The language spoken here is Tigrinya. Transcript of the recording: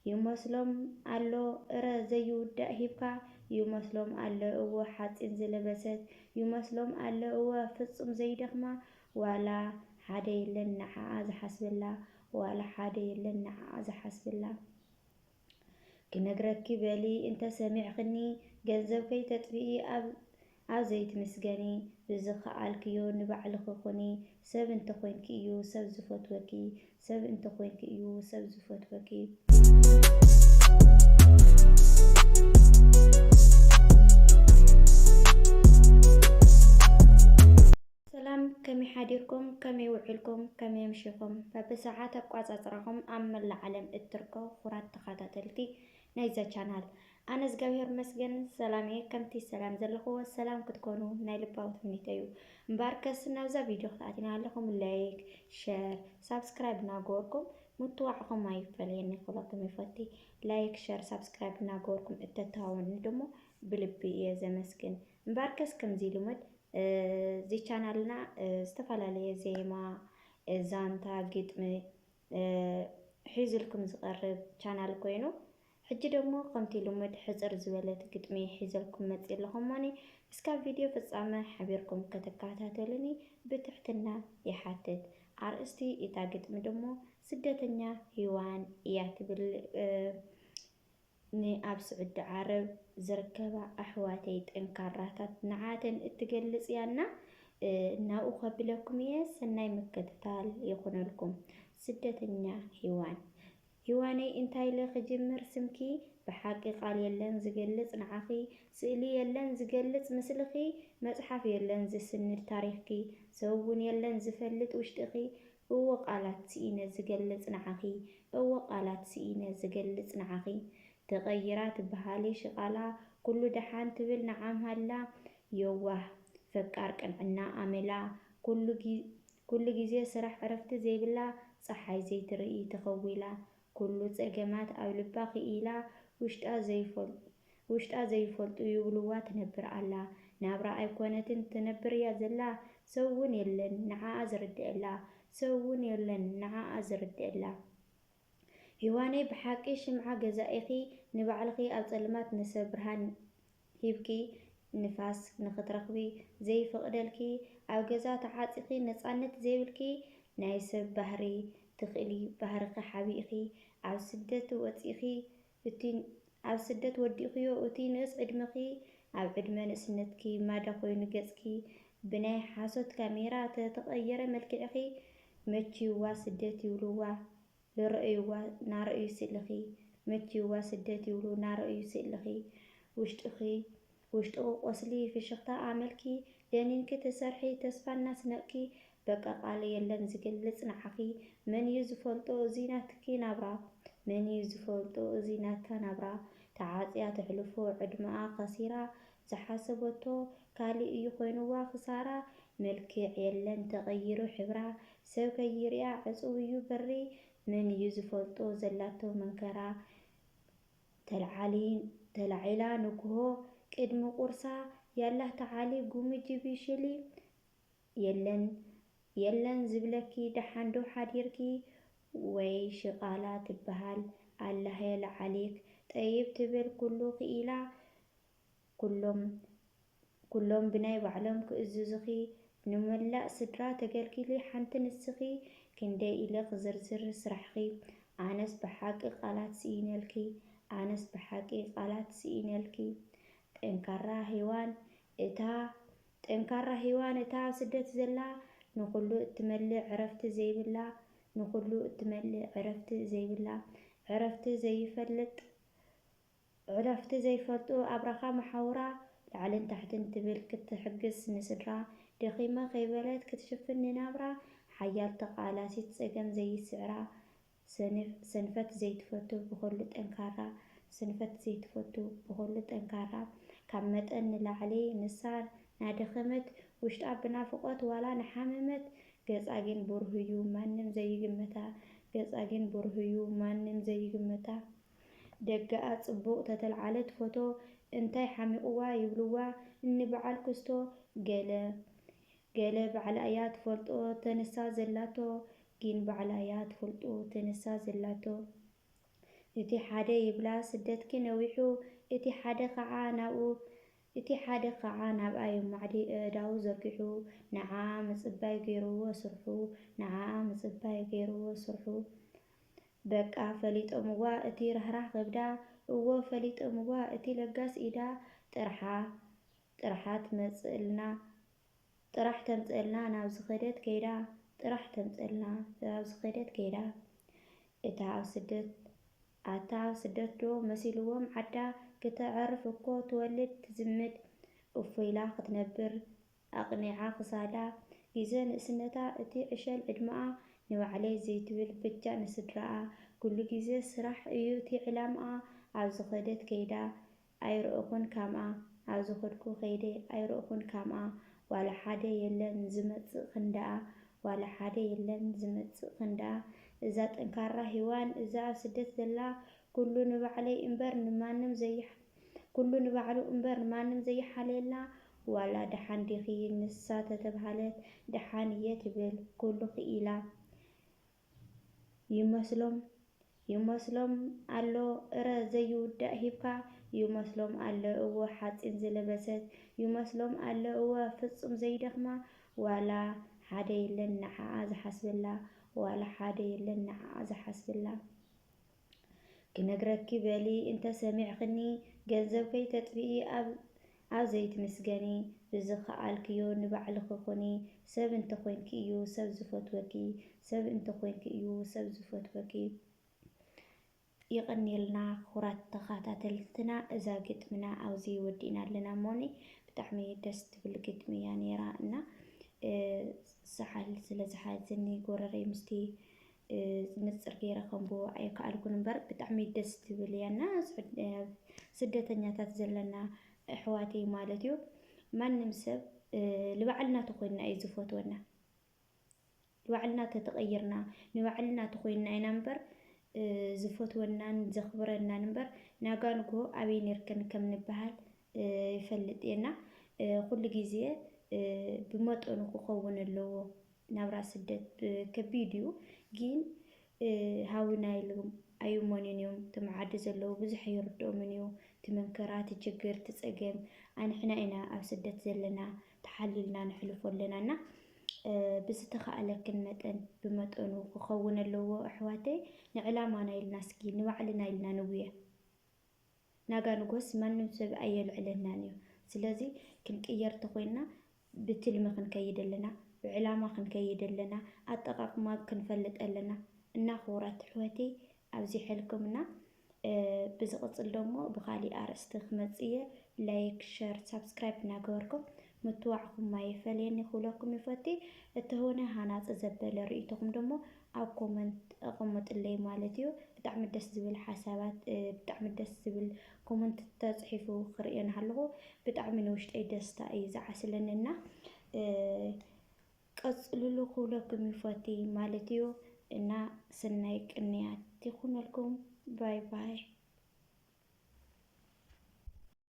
ይመስሎም ኣሎ እረ ዘይውዳእ ሂብካ ይመስሎም ኣሎ እወ ሓጺን ዝለበሰት ይመስሎም ኣሎ እወ ፍጹም ዘይደኽማ ዋላ ሓደ የለን ንዓኣ ዝሓስበላ ዋላ ሓደ የለን ንዓኣ ዝሓስበላ ክነግረኪ በሊ እንተ ሰሚዕኽኒ ገንዘብ ከይተጥፍኢ ኣብ ኣብ ዘይትምስገኒ ብዝኻኣልክዮ ንባዕልኺ ኩኒ ሰብ እንተኮይንኪ እዩ ሰብ ዝፈትወኪ ሰብ እንተኮይንኪ እዩ ሰብ ዝፈትወኪ። ሰላም ከመይ ሓዲርኩም ከመይ ውዒልኩም ከመይ ኣምሺኹም በብሰዓት ኣቋጻጽራኹም ኣብ መላእ ዓለም እትርከቡ ክቡራት ተኻታተልቲ ናይዛ ቻናል ኣነ እዝጋብሄር እመስገን ሰላም እየ ከምቲ ሰላም ዘለክዎ ሰላም ክትኮኑ ናይ ልባዊ ትምኒተይ እዩ እምበኣርከስ ናብዛ ቪድዮ ክትኣቲና ኣለኹም ላይክ ሸር ሳብስክራይብ እናገበርኩም ምትዋዕኹም ኣይፈለየኒ ክብለኩም ይፈቲ ላይክ ሸር ሳብስክራይብ እናገበርኩም እተተሃወኒ ድሞ ብልቢ እየ ዘመስግን እምበኣርከስ ከምዚ ልሙድ እዚ ቻናልና ዝተፈላለየ ዜማ፣ ዛንታ፣ ግጥሚ ሒዙልኩም ዝቐርብ ቻናል ኮይኑ ሕጂ ደሞ ከምቲ ልሙድ ሕጽር ዝበለት ግጥሚ ሒዘልኩም መጽየ ኣለኹ እሞኒ እስካብ ቪድዮ ፍጻመ ሓቢርኩም ከተከታተሉኒ ብትሕትና ይሓትት ኣርእስቲ እታ ግጥሚ ደሞ ስደተኛ ሂዋን እያ ትብል ንኣብ ስዑዲ ዓረብ ዝርከባ ኣሕዋተይ ጠንካራታት ንዓተን እትገልጽ እያ እና ናብኡ ከብለኩም እየ ሰናይ ምክትታል ይኹነልኩም ስደተኛ ሂዋን ሂዋነይ እንታይ ኢለ ክጅምር ስምኪ ብሓቂ ቃል የለን ዝገልጽ ንዓኺ ስእሊ የለን ዝገልጽ ምስልኺ መጽሓፍ የለን ዝስንድ ታሪኽኪ ሰብ ውን የለን ዝፈልጥ ውሽጥኺ እወ ቃላት ስኢነ ዝገልጽ ንዓኺ እወ ቃላት ስኢነ ዝገልጽ ንዓኺ ተቀይራ ትበሃሊ ሽቃላ ኩሉ ደሓን ትብል ንዓምሃላ የዋህ ፈቃር ቅንዕና ኣመላ ኩሉ ኩሉ ግዜ ስራሕ ዕረፍቲ ዘይብላ ጸሓይ ዘይትርኢ ተኸዊላ ኩሉ ጸገማት ኣብ ልባ ክኢላ ውሽጣ ዘይፈልጡ ውሽጣ ዘይፈልጡ ይብልዋ ትነብር ኣላ ናብራ ኣይኮነትን ትነብር እያ ዘላ ሰብ ውን የለን ንዓኣ ዝርድእላ ሰብ ውን የለን ንዓኣ ዝርድእላ ሂዋነይ ብሓቂ ሽምዓ ገዛኢኪ ንባዕልኪ ኣብ ፀልማት ንሰብ ብርሃን ሂብኪ ንፋስ ንክትረክቢ ዘይፍቅደልኪ ኣብ ገዛ ተዓፂኪ ነፃነት ዘይብልኪ ናይ ሰብ ባህሪ ትክእሊ ባህርኪ ሓቢእኪ ኣብ ስደት ወፂእኪ እቲ ኣብ ስደት ወዲእኽዮ እቲ ንእስ ዕድመኺ ኣብ ዕድመ ንእስነትኪ ማዳ ኮይኑ ገጽኪ ብናይ ሓሶት ካሜራ ተተቀየረ መልክዕኺ መችዩዋ ስደት ይብሉዋ ልረእዩዋ ናረእዩ ስእልኺ መችዩዋ ስደት ይብሉ ናረእዩ ስእልኺ ውሽጥኺ ውሽጡ ቁቆስሊ ፍሽኽታ ኣመልኪ ደኒንኪ ትሰርሒ ተስፋ እናስነቅኪ በቃ ቃል የለን ዝገልፅ ንዓኺ መን እዩ ዝፈልጦ እዙይ ናትኪ ናብራ መን እዩ ዝፈልጦ እዙይ ናታ ናብራ ተዓፅያ ተሕልፎ ዕድመኣ ከሲራ ዝሓሰበቶ ካሊእ እዩ ኮይኑዋ ክሳራ መልክዕ የለን ተቀይሩ ሕብራ ሰብ ከይሪኣ ዕፁው እዩ በሪ መን እዩ ዝፈልጦ ዘላቶ መንከራ ተላዒላ ንግሆ ቅድሚ ቁርሳ ያላህ ተዓሊ ጉሚ ጂቢ ሽሊ የለን የለን ዝብለኪ ደሓን ዶ ሓዲርኪ ወይ ሽቃላ ትበሃል ኣላህ የልዓሊክ ጠይብ ትብል ኩሉ ክኢላ ኩሎም ኩሎም ብናይ ባዕሎም ክእዝዙኺ ንመላእ ስድራ ተገልጊሊ ሓንቲ ንስኺ ክንደይ ኢለ ክዝርዝር ስራሕኺ ኣነስ ብሓቂ ቃላት ስኢነልኪ ኣነስ ብሓቂ ቃላት ስኢነልኪ ጠንካራ ሄዋን እታ ጠንካራ ሄዋን እታ ኣብ ስደት ዘላ ንኹሉ እትመልእ ዕረፍቲ ዘይብላ ንኹሉ እትመልእ ዕረፍቲ ዘይብላ ዕረፍቲ ዘይፈልጥ ዕረፍቲ ዘይፈልጡ ኣብራኻ መሓውራ ላዕልን ታሕትን ትብል ክትሕግዝ ንስድራ ደኺመ ከይበለት ክትሽፍን ንናብራ ሓያል ተቓላሲት ጸገም ዘይስዕራ ሰንፍ ሰንፈት ዘይትፈቱ ብኹሉ ጠንካራ ሰንፈት ዘይትፈቱ ብኹሉ ጠንካራ ካብ መጠን ንላዕሊ ንሳ ናደኸመት ውሽጣ ብናፍቖት ዋላ ናሓመመት ገጻ ግን ብሩህ'ዩ ማንም ዘይግምታ ገጻ ግን ብሩህ'ዩ ማንም ዘይግምታ ደገኣ ጽቡቅ ተተልዓለት ፎቶ እንታይ ሓሚቁዋ ይብልዋ እኒ በዓል ኩስቶ ገለ ገለ ባዕላ እያ ትፈልጦ ተንሳ ዘላቶ ጊን ባዕላ እያ ትፍልጡ ተንሳ ዘላቶ እቲ ሓደ ይብላ ስደትኪ ነዊሑ እቲ ሓደ ካዓ ናብኡ እቲ ሓደ ካዓ ናብኣ የማዕዲ እእዳዉ ዘርጊሑ ንዓኣ ምጽባይ ገይርዎ ስርሑ ንዓኣ ምጽባይ ገይርዎ ስርሑ በቃ ፈሊጦምዋ እቲ ራህራህ ከብዳ እዎ ፈሊጦምዋ እቲ ለጋስ ኢዳ ጥርሓ ጥርሓ ትመጽእልና ጥራሕ ተምጽእልና ናብ ዝኸደት ከይዳ ጥራሕ ተምጽእልና ናብ ዝኸደት ከይዳ እታ ኣብ ስደት ኣታ ኣብ ስደት ዶ መሲልዎም ዓዳ ክተዕርፍ እኮ ትወልድ ትዝምድ እፎ ኢላ ክትነብር ኣቕኒዓ ክሳዳ ግዜ ንእስነታ እቲ ዕሸል ዕድመኣ ንባዕለይ ዘይትብል በጃ ንስድራኣ ኩሉ ግዜ ስራሕ እዩ እቲ ዕላምኣ ኣብ ዝኸደት ከይዳ ኣይረእኹን ካምኣ ኣብ ዝኸድኩ ከይደ ኣይረእኹን ካምኣ ዋላ ሓደ የለን ዝመጽእ ክንዳኣ ዋላ ሓደ የለን ዝመጽእ ክንዳኣ እዛ ጠንካራ ሂዋን እዛ ኣብ ስደት ዘላ ኩሉ ንባዕለይ እምበር ንማንም ዘይሓ ኩሉ ንባዕሉ እምበር ንማንም ዘይሓልየላ ዋላ ደሓን ዲኺ ንሳ ተተብሃለት ደሓን እየ ትብል ኩሉ ክኢላ ይመስሎም ይመስሎም ኣሎ እረ ዘይውዳእ ሂብካ ይመስሎም ኣሎ እወ ሓፂን ዝለበሰት ይመስሎም ኣሎ እወ ፍፁም ዘይደኽማ ዋላ ሓደ የለን ንዓኣ ዝሓስበላ ዋላ ሓደ የለን ንዓኣ ዝሓስበላ ክነግረኪ በሊ እንተ ሰሚዕኽኒ ገንዘብ ከይተጥፍኢ ኣብ ኣብ ዘይትምስገኒ ብዝኻኣልክዮ ንባዕልኺ ኩኒ ሰብ እንተ ኮንኪ እዩ ሰብ ዝፈትወኪ ሰብ እንተ ኮንኪ እዩ ሰብ ዝፈትወኪ የቐንየልና ክቡራት ተኻታተልትና እዛ ግጥምና ኣብዚ ወዲእና ኣለና እሞኒ ብጣዕሚ ደስ ትብል ግጥሚ እያ ነይራ እና ሰሓል ስለ ዝሓዝኒ ጎረረይ ምስቲ ዝንጽር ገይረ ከንብቦ ኣይከኣልኩን እምበር ብጣዕሚ ደስ ትብል እያ እና ስደተኛታት ዘለና ኣሕዋተይ ማለት እዩ ማንም ሰብ ንባዕልና ተኮይንና እዩ ዝፈትወና ንባዕልና ተተቐይርና ንባዕልና ተኮይንና ኢና እምበር ዝፈትወናን ዘኽብረናን እምበር ናጋንጎ ኣበይ ነርክን ከም ንበሃል ይፈልጥ እየና ኩሉ ግዜ ብመጠኑ ክኸውን ኣለዎ ናብራ ስደት ከቢድ እዩ ጊን ሃውና ኢሉም ኣዩሞኒን እዮም ትም ዓዲ ዘለው ብዙሕ ኣይርድኦምን እዩ ትመንከራ ትችግር ትፀገም ኣንሕና ኢና ኣብ ስደት ዘለና ተሓሊልና ንሕልፎ ኣለና እና ብዝተኻእለክን መጠን ብመጠኑ ክኸውን ኣለዎ ኣሕዋተይ ንዕላማና ኢልና እስኪ ንባዕልና ኢልና ንጉየ። ናጋ ንጎስ ማንም ሰብ ኣየልዕለናን እዩ ስለዚ ክንቅየር ተኮይንና ብትልሚ ክንከይድ ኣለና ብዕላማ ክንከይድ ኣለና ኣጠቃቅማ ክንፈልጥ ኣለና እና ክቡራት ኣሕዋተይ ኣብዚሐልኩምና ብዝቅፅል ደሞ ብካሊእ ኣርእስቲ ክመፅእ እየ ላይክ ሸር ሳብስክራይብ እናገበርኩም ምትዋዕኩም ኣይፈለየኒ ክብለኩም ይፈቲ እተሆነ ሃናፂ ዘበለ ርእይቶኩም ደሞ ኣብ ኮመንት ኣቀሙጥለይ ማለት እዩ። ብጣዕሚ ደስ ዝብል ሓሳባት ብጣዕሚ ደስ ዝብል ኮመንት ተጽሒፉ ክርእዮ ናሃለኹ ብጣዕሚ ንውሽጠይ ደስታ እዩ ዝዓስለኒ እና ቀጽልሉ ክብለኩም ይፈቲ ማለት እዩ እና ስናይ ቅንያት ይኹነልኩም ባይ ባይ።